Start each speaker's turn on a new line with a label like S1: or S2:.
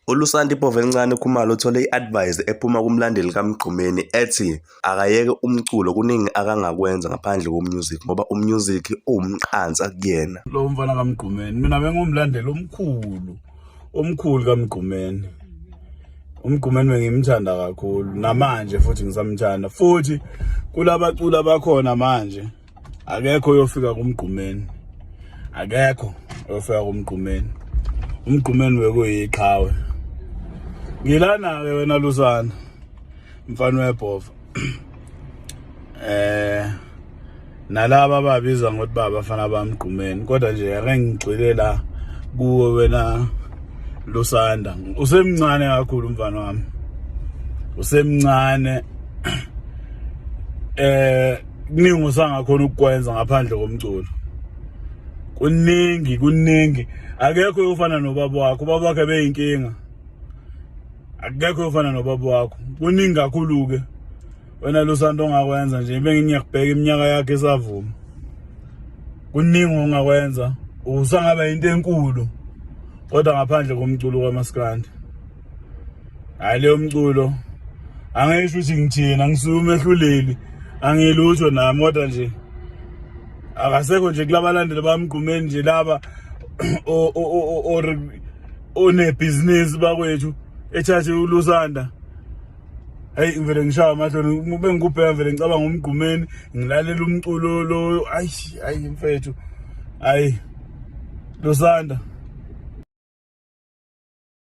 S1: ULusanti Povel'Ncane Khumalo uthole i-advise ephuma kumlandeli kaMgqumeni ethi akayeke umculo kuningi akangakwenza ngaphandle komusic ngoba umusic uwumqansa kuyena. Lo mfana kaMgqumeni
S2: mina bengumlandeli omkhulu omkhulu kaMgqumeni. UMgqumeni bengimthanda kakhulu namanje futhi ngisamthanda futhi kulabaculi abakhona manje akekho oyofika kumgqumeni akekho oyofika kumgqumeni umgqumeni wekuyiqhawe ngilana-ke wena lusana mfana webhova eh nalaba ababiza ngokuthi babafana bamgqumeni kodwa nje ake ngigxile la kuwe wena lusanda usemncane kakhulu mfana wami usemncane eh kuningi usangakhona ukukwenza ngaphandle komculo kuningi kuningi akekho uyofana nobaba wakho ubaba wakhe beyinkinga akekho uyofana nobaba wakho kuningi kakhulu-ke wena lusanto ongakwenza nje bengingiyakubheka iminyaka yakhe esavuma kuningi ongakwenza usangaba yinto enkulu kodwa ngaphandle komculo kwamaskandi hayi leyo mculo angisho ukuthi ngithina ngisuke umehluleli angilutho nami kodwa nje akasekho nje kulabalandeli bamgqumeni nje laba or onebhizinisi bakwethu ethathe ulusanda hayi ngivele ngishaya amahloni ube ngikubheka ngivele ngicabanga umgqumeni ngilalela umculo lo ayi ayi mfethu ayi lusanda